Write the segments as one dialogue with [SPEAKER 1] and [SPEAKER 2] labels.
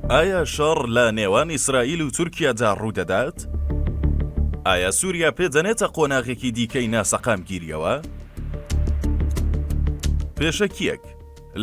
[SPEAKER 1] ئایا شەڕ لە نێوان ئیسرائیل و تورکیادا ڕوودەدات؟ ئایا سووریا پێدەنێتە قۆناغێکی دیکەی ناسەقامگیریەوە؟ پێشەکیەک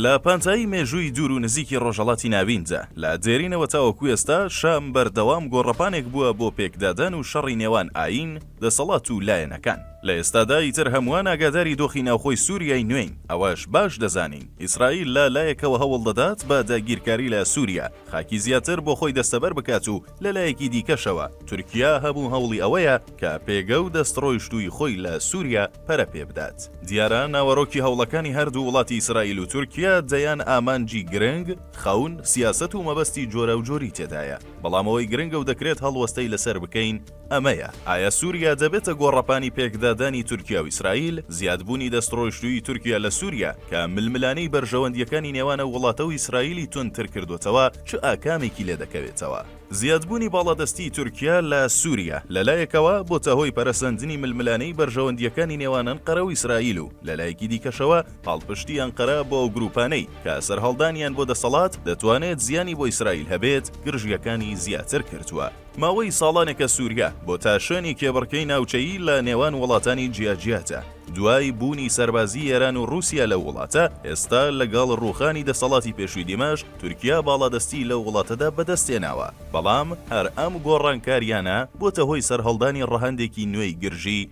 [SPEAKER 1] لە پانتایی مێژووی دوور و نزیکی ڕۆژەڵاتی ناویندا لە دێرینەوە تاوەکو ئێستا شام بەردەوام گۆڕەپانێک بووە بۆ پێکدادان و شەڕی نێوان ئاین، دەسەڵات و لایەنەکان. لە ئێستادا ئیتر هەمووان ئاگاداری دۆخی ناوخۆی سووریای نوێین، ئەوەش باش دەزانین ئیسرائیل لە لایەکەوە هەوڵ دەدات بە داگیرکاری لە سووریا خاکی زیاتر بۆ خۆی دەستەبەر بکات و لە لایەکی دیکەشەوە تورکیا هەموو هەوڵی ئەوەیە کە پێگە و دەستڕۆیشتووی خۆی لە سووریا پەرە پێ بدات. دیارە ناوەرۆکی هەوڵەکانی هەر دوو وڵاتی ئیسرائیل و تورکیا دەیان ئامانجی گرنگ، خەون، سیاسەت و مەبەستی جۆراوجۆری تێدایە، بەڵام ئەوەی گرنگە و دەکرێت هەڵوەستەی لەسەر بکەین، ئەمەیە، ئایا سوریا دەبێتە گۆڕەپانی پێکدادانی تورکیا و ئیسرائیل؟ زیادبوونی دەستڕۆیشتوویی تورکیا لە سوریا، کە ململانێی بەرژەوەندییەکانی نێوان ئەو وڵاتە و ئیسرائیلی توندتر کردووەتەوە، چ ئاکامێکی لێ دەکەوێتەوە؟ زیادبوونی باڵادەستیی تورکیا لە سوریا، لە لایەکەوە بۆتە هۆی پەرەسەندنی ململانێی بەرژەوەندییەکانی نێوان ئەنقەرە و ئیسرائیل و لە لایەکی دیکەشەوە پاڵپشتیی ئەنقەرە بۆ ئەو گرووپانەی کە سەرهەڵدانیان بۆ دەسەڵات دەتوانێت زیانی بۆ ئیسرائیل هەبێت، گرژییەکانی زیاتر کردووە. ماوەی ساڵانێکە سووریا بۆ تاشانی کێبڕکێی ناوچەیی لە نێوان وڵاتانی جیاجیادا. دوای بوونی سەربازی ئێران و ڕووسیا لەو وڵاتە، ئێستا لەگەڵ ڕووخانی دەسەڵاتی پێشووی دیمەشق، تورکیا باڵادەستی لەو وڵاتەدا بەدەست هێناوە. بەڵام هەر ئەم گۆڕانکارییانە بۆتە هۆی سەرهەڵدانی ڕەهەندێکی نوێی گرژی،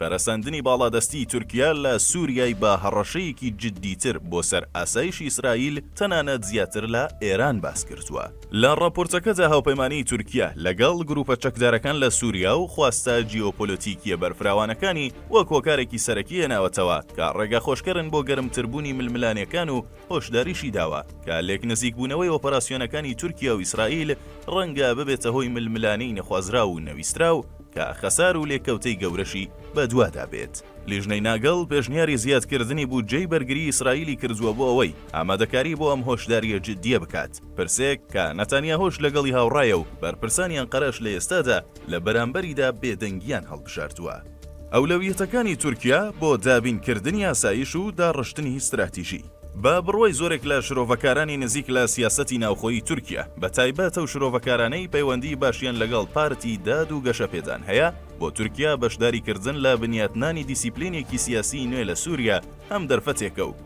[SPEAKER 1] پەرەسەندنی باڵادەستیی تورکیا لە سووریای بە هەڕەشەیەکی جددیتر بۆ سەر ئاسایشی ئیسرائیل، تەنانەت زیاتر لە ئێران باس کردووە. لە ڕاپۆرتەکەدا هاوپەیمانیی تورکیا لەگەڵ گرووپە چەکدارەکان لە سووریا و خواستە جیۆپۆلۆتیکییە بەرفراوانەکانی وەک هۆکارێکی سەرەکی هێناوەتەوە کە ڕێگاخۆشکەرن بۆ گەرمتربوونی ململانێکان و هۆشداریشی داوە کە لێکنزیکبوونەوەی ئۆپەراسیۆنەکانی تورکیا و ئیسرائیل ڕەنگە ببێتە هۆی ململانێی نەخوازراو و نەویستراو کە خەسار و لێکەوتەی گەورەشی بەدوادا بێت. لیژنەی ناگڵ پێشنیاری زیادکردنی بودجەی بەرگری ئیسرائیلی کردووە بۆ ئەوەی ئامادەکاری بۆ ئەم هۆشدارییە جددیە بکات، پرسێک کە نەتانیاهۆش لەگەڵی هاوڕایە و بەرپرسانی ئەنقەرەش لە ئێستادا لە بەرامبەریدا بێدەنگییان هەڵبژاردووە. ئەولەویەتەکانی تورکیا بۆ دابینکردنی ئاسایش و داڕشتنی ستراتیژی. بە بڕوای زۆرێک لە شرۆڤەکارانی نزیک لە سیاسەتی ناوخۆیی تورکیا، بەتایبەت ئەو شرۆڤەکارانەی پەیوەندیی باشیان لەگەڵ پارتی داد و گەشەپێدان هەیە، بۆ تورکیا بەشداریکردن لە بنیاتنانی دیسیپلینێکی سیاسیی نوێ لە سووریا هەم دەرفەتێکە و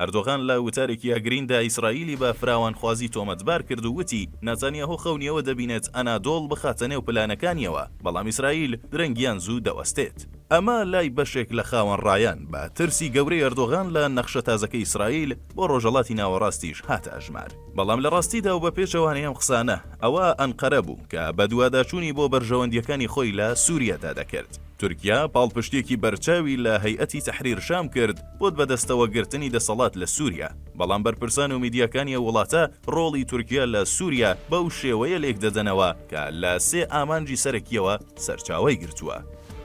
[SPEAKER 1] ئەردۆغان لە وتارێکی ئەگریندا ئیسرائیلی بە فراوانخوازی تۆمەتبار کرد و وتی، ناتانیاهۆ خەونی ئەوە دەبینێت ئەنادۆڵ بخاتە نێو پلانەکانییەوە، بەڵام ئیسرائیل درەنگیان زوو دەوەستێت. ئەمە لای بەشێک لە خاوەنڕایان بە ترسی گەورەی ئەردۆغان لە نەخشە تازەکەی ئیسرائیل بۆ ڕۆژهەڵاتی ناوەڕاستیش هاتە ئەژمار. بەڵام لە ڕاستیدا و بە پێچەوانەی ئەم قسانە، ئەوە ئەنقەرە بوو کە بەدواداچوونی بۆ بەرژەوەندییەکانی خۆی لە سووریادا دەکرد. تورکیا پاڵپشتییەکی بەرچاوی لە هەیئەتی تەحریر شام کرد بۆت بەدەستەوە گرتنی دەسەڵات لە سوریا، بەڵام بەرپرسان و میدیاکانی ئەو وڵاتە ڕۆڵی تورکیا لە سوریا بەو شێوەیە لێکدەدەنەوە کە لە سێ ئامانجی سەرەکییەوە سەرچاوەی گرتووە.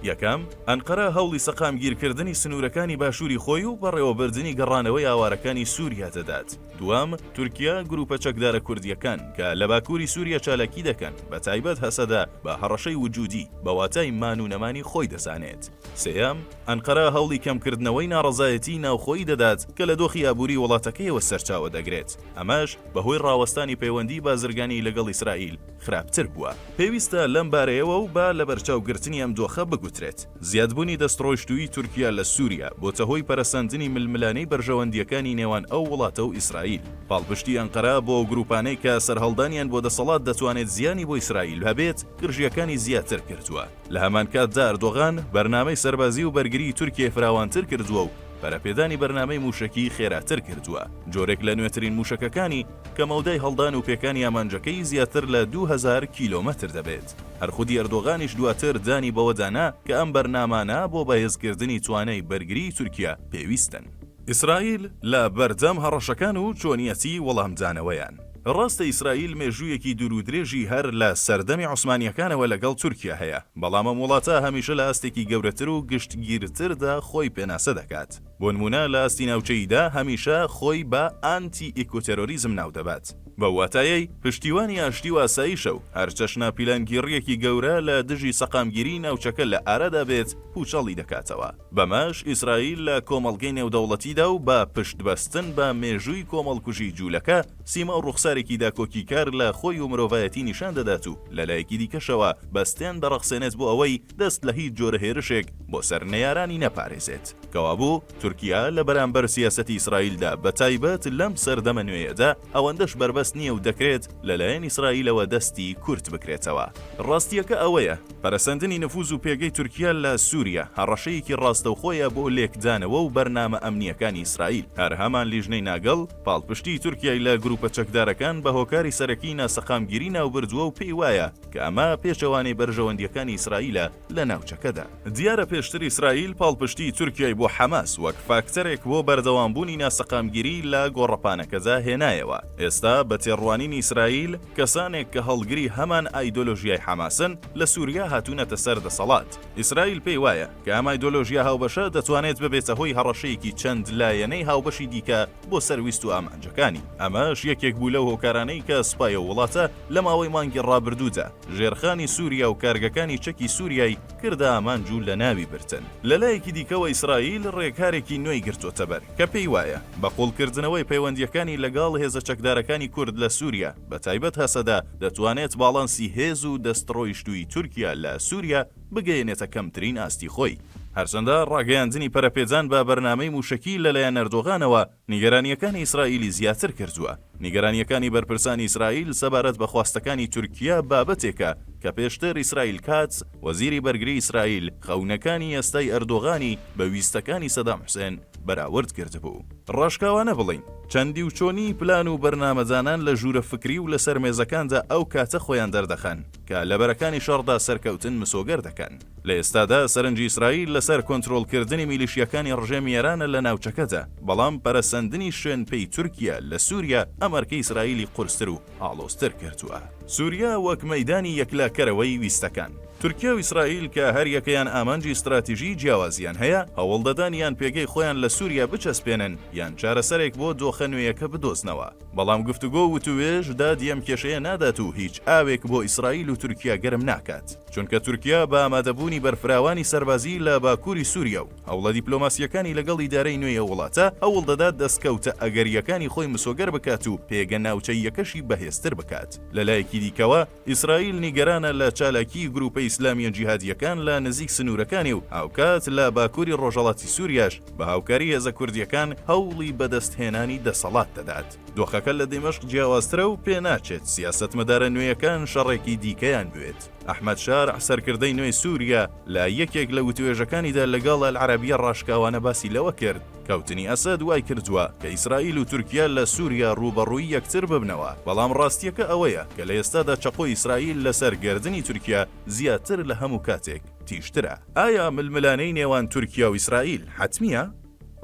[SPEAKER 1] یەکەم، ئەنقەرە هەوڵی سەقامگیرکردنی سنوورەکانی باشووری خۆی و بەڕێوەبردنی گەڕانەوەی ئاوارەکانی سوریا دەدات، دووەم، تورکیا گروپە چەکدارە کوردییەکان کە لە باکووری سووریا چالاکی دەکەن، بە تایبەت هەسەدە بە هەڕەشەی وجودی، بە واتای مان و نەمانی خۆی دەزانێت. سێیەم، ئەنقەرە هەوڵی کەمکردنەوەی ناڕەزایەتیی ناوخۆیی دەدات کە لە دۆخی ئابووری وڵاتەکەیەوە سەرچاوە دەگرێت، ئەمەش بەهۆی ڕاوەستانی پەیوەندیی بازرگانیی لەگەڵ ئیسرائیل. خراپتر بووە. پێویستە لەم بارەیەوە و بە لەبەرچاوگرتنی ئەم دۆخە بگوترێت، زیادبوونی دەستڕۆیشتوویی تورکیا لە سووریا بۆتە هۆی پەرەسەندنی ململانێی بەرژەوەندییەکانی نێوان ئەو وڵاتە و ئیسرائیل. پاڵپشتی ئەنقەرە بۆ ئەو گرووپانەی کە سەرهەڵدانیان بۆ دەسەڵات دەتوانێت زیانی بۆ ئیسرائیل هەبێت، گرژییەکانی زیاتر کردووە. لە هەمان کاتدا ئەردۆغان بەرنامەی سەربازی و بەرگریی تورکیای فراوانتر کردووە و پەرەپێدانی بەرنامەی مووشەکیی خێراتر کردووە، جۆرێک لە نوێترین مووشەکەکانی، کە مەودای هەڵدان و پێکانی ئامانجەکەی زیاتر لە دوو هەزار کیلۆمەتر دەبێت. هەر خودی ئەردۆغانیش دواتر دانی بەوەدا نا کە ئەم بەرنامانە بۆ بەهێزکردنی توانای بەرگریی تورکیا پێویستن. ئیسرائیل لە بەردەم هەڕەشەکان و چۆنیەتی وەڵامدانەوەیان. ڕاستە ئیسرائیل مێژوویەکی دوورودرێژی هەر لە سەردەمی عوسمانییەکانەوە لەگەڵ تورکیا هەیە، بەڵام ئەم وڵاتە هەمیشە لە ئاستێکی گەورەتر و گشتگیرتردا خۆی پێناسە دەکات. بۆنموونە لە ئاستی ناوچەییدا هەمیشە خۆی بە ئانتی ئیکوتێرۆریزم ناودەبات، بەو واتایەی پشتیوانی ئاشتی و ئاسایشە و هەرچەشنە پیلانگیڕییەکی گەورە لە دژی سەقامگیریی ناوچەکە لە ئارادا بێت پووچەڵی دەکاتەوە. بەمەش ئیسرائیل لە کۆمەڵگەی نێودەوڵەتیدا و بە پشتبەستن بە مێژووی کۆمەڵکوژی جوولەکە، سیما و ڕوخسارێکی داکۆکیکار لە خۆی و مرۆڤایەتی نیشان دەدات و لەلایەکی دیکەشەوە بەستێن دەڕەخسێنێت بۆ ئەوەی دەست لە هیچ جۆرە هێرشێک بۆ سەر نەیارانی نەپارێزێت. کەوابوو تورکیا لە بەرامبەر سیاسەتی ئیسرائیلدا بە تایبەت لەم سەردەمە نوێیەدا ئەوەندەش بەربەست نییە و دەکرێت لە لایەن ئیسرائیلەوە دەستی کورت بکرێتەوە. ڕاستییەکە ئەوەیە پەرەسەندنی نفوز و پێگەی تورکیا لە سووریا هەڕەشەیەکی ڕاستەوخۆیە بۆ لێکدانەوە و بەرنامە ئەمنییەکانی ئیسرائیل. هەر هەمان لیژنەی ناگڵ پاڵپشتیی تورکیای لە گرووپە چەکدارەکان بە هۆکاری سەرەکیی ناسەقامگیری ناوبردووە و پێی وایە، کە ئەمە پێچەوانەی بەرژەوەندییەکانی ئیسرائیلە لە ناوچەکەدا. دیارە پێشتر ئیسرائیل پاڵپشتیی تورکیای بۆ حەماس وەک فاکتەرێک بۆ بەردەوامبوونی ناسەقامگیری لە گۆڕەپانەکەدا هێنایەوە، ئێستا بە تێڕوانینی ئیسرائیل کەسانێک کە هەڵگری هەمان ئایدۆلۆژیای حەماسن لە سووریا هاتوونەتە سەر دەسەڵات. ئیسرائیل پێی وایە کە ئەم ئایدۆلۆژیا هاوبەشە دەتوانێت ببێتە هۆی هەڕەشەیەکی چەند لایەنەی هاوبەشی دیکە بۆ سەر ویست و ئامانجەکانی، ئەمەش یەکێک بوو لەو هۆکارانەی کە سوپای ئەو وڵاتە لە ماوەی مانگی ڕابردوودا ژێرخانی سوریا و کارگەکانی چەکی سوریای کردە ئامانج و لەناوی بردن. لە لایەکی دیکەوە ئیسرائیل ڕێکارێکی نوێی گرتۆتەبەر کە پێی وایە بە قوڵکردنەوەی پەیوەندییەکانی لەگەڵ هێزە چەکدارەکانی کورد لە سوریا بە تایبەت هەسەدە دەتوانێت باڵانسی هێز و دەستڕۆیشتووی تورکیا لە سوریا بگەیەنێتە کەمترین ئاستی خۆی. هەرچەندە ڕاگەیاندنی پەرەپێدان بە بەرنامەی مووشەکی لەلایەن ئەردۆغانەوە نیگەرانییەکانی ئیسرائیلی زیاتر کردووە، نیگەرانییەکانی بەرپرسانی ئیسرائیل سەبارەت بە خواستەکانی تورکیە بابەتێکە کە پێشتر ئیسرائیل کاتز، وەزیری بەرگری ئیسرائیل خەونەکانی ئێستای ئەردۆغانی بە ویستەکانی سەدام حوسێن بەراورد کردبوو. ڕاشکاوانە بڵێین، چەندی و چۆنیی پلان و بەرنامەدانان لە ژوورە فکری و لەسەر مێزەکاندا ئەو کاتە خۆیان دەردەخەن، کە لە بەرەکانی شەڕدا سەرکەوتن مسۆگەر دەکەن. لە ئێستادا سەرنجی ئیسرائیل لەسەر کۆنترۆڵکردنی میلیشیاکانی ڕژێمی ئێرانە لە ناوچەکەدا، بەڵام پەرەسەندنی شوێنپێی تورکیا لە سوریا ئەم ئەرکەی ئیسرائیلی قورستر و ئاڵۆزتر کردووە. سوریا وەک مەیدانی یەکلاکەرەوەی ویستەکان. تورکیا و ئیسرائیل کە هەریەکەیان ئامانجی ستراتیژیی جیاوازیان هەیە، هەوڵدەدەن یان پێگەی خۆیان لە سوریا بچەسپێنن یان چارەسەرێک بۆ دۆخە نوێیەکە بدۆزنەوە. بەڵام گفتوگۆ و وتووێژ دادی ئەم کێشەیە نادات و هیچ ئاوێک بۆ ئیسرائیل و تورکیا گەرم ناکات، چونکە تورکیا بە ئامادەبوونی بەرفراوانی سەربازی لە باکووری سووریا و هەوڵە دیپلۆماسییەکانی لەگەڵ ئیدارەی نوێی ئەو وڵاتە، هەوڵ دەدات دەستکەوتە ئەگەرییەکانی خۆی مسۆگەر بکات و پێگە ناوچەییەکەشی بەهێزتر بکات. لەلایەکی دیکەوە، ئیسرائیل نیگەرانە لە چالاکیی گرووپە ئیسلامییە جیهادییەکان لە نزیک سنوورەکانی و هاوکات لە باکووری ڕۆژهەڵاتی سووریاش بە هاوکاری هێزە کوردییەکان هەوڵی بەدەستهێنانی دەسەڵات دەدات. دۆخەکە لە دیمەشق جیاوازترە و پێناچێت سیاسەتمەدارە نوێیەکان شەڕێکی دیکەیان بوێت. ئەحمەد شارع، سەرکردەی نوێی سووریا، لە یەکێک لە وتووێژەکانیدا لەگەڵ ئەلعەرەبییە ڕاشکاوانە باسی لەوە کرد، کەوتنی ئەسەد وای کردووە کە ئیسرائیل و تورکیا لە سووریا ڕووبەڕووی یەکتر ببنەوە، بەڵام ڕاستییەکە ئەوەیە کە لە ئێستادا چەقۆی ئیسرائیل لەسەر گەردنی تورکیا زیاتر لە هەموو کاتێک تیژترە. ئایا ململانێی نێوان تورکیا و ئیسرائیل حەتمییە؟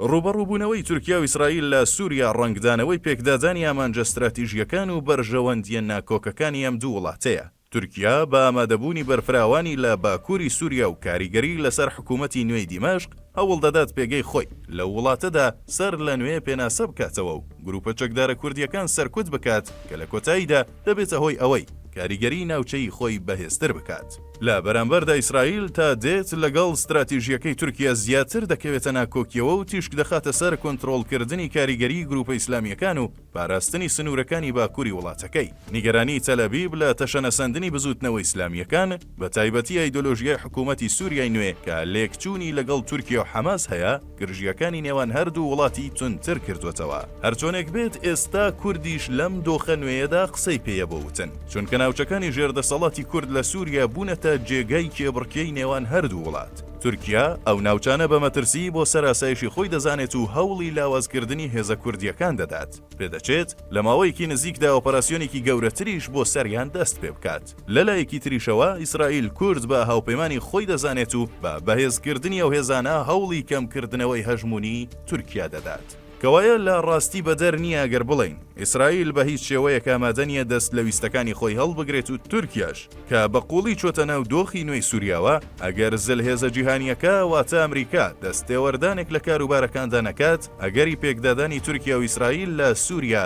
[SPEAKER 1] ڕووبەڕووبوونەوەی تورکیا و ئیسرائیل لە سووریا ڕەنگدانەوەی پێکدادانی ئامانجە ستراتیژییەکان و بەرژەوەندییە ناکۆکەکانی ئەم دوو وڵاتەیە. تورکیا بە ئامادەبوونی بەرفراوانی لە باکووری سووریا و کاریگەری لەسەر حکوومەتی نوێی دیمەشق، هەوڵ دەدات پێگەی خۆی لەو وڵاتەدا سەر لە نوێ پێناسە بکاتەوە و گرووپە چەکدارە کوردییەکان سەرکوت بکات کە لە کۆتاییدا دەبێتە هۆی ئەوەی کاریگەری ناوچەیی خۆی بەهێزتر بکات. لە بەرامبەردا ئیسرائیل تا دێت لەگەڵ ستراتیژییەکەی تورکیا زیاتر دەکەوێتە ناکۆکییەوە و تیشک دەخاتە سەر کۆنترۆڵکردنی کاریگەریی گرووپە ئیسلامییەکان و پاراستنی سنوورەکانی باکووری وڵاتەکەی، نیگەرانیی تەلئەبیب لە تەشەنەسەندنی بزووتنەوە ئیسلامییەکان، بەتایبەتی ئایدۆلۆژیای حکوومەتی سووریای نوێ کە لێکچوونی لەگەڵ تورکیا و حەماس هەیە، گرژییەکانی نێوان هەردوو وڵاتی توندتر کردووەتەوە. هەرچۆنێک بێت، ئێستا کوردیش لەم دۆخە نوێیەدا قسەی پێیە بۆ وتن، چونکە ناوچەکانی ژێر دەسەڵاتی کورد لە سووریا بوونەتە جێگای کێبڕکێی نێوان هەردوو وڵات. تورکیا ئەو ناوچانە بە مەترسیی بۆ سەر ئاسایشی خۆی دەزانێت و هەوڵی لاوازکردنی هێزە کوردییەکان دەدات، پێدەچێت لە ماوەیەکی نزیکدا ئۆپەراسیۆنێکی گەورەتریش بۆ سەریان دەست پێ بکات. لە لایەکی تریشەوە ئیسرائیل کورد بە هاوپەیمانی خۆی دەزانێت و بە بەهێزکردنی ئەو هێزانە هەوڵی کەمکردنەوەی هەژموونیی تورکیا دەدات. کەوایە لە ڕاستی بەدەر نییە ئەگەر بڵێین ئیسرائیل بە هیچ شێوەیەک ئامادە نییە دەست لە ویستەکانی خۆی هەڵبگرێت و تورکیاش کە بە قووڵی چۆتە ناو دۆخی نوێی سوریاوە ئەگەر زلهێزە جیهانییەکە واتە ئەمریکا دەستێوەردانێک لە کاروبارەکاندا نەکات ئەگەری پێکدادانی تورکیا و ئیسرائیل لە سوریا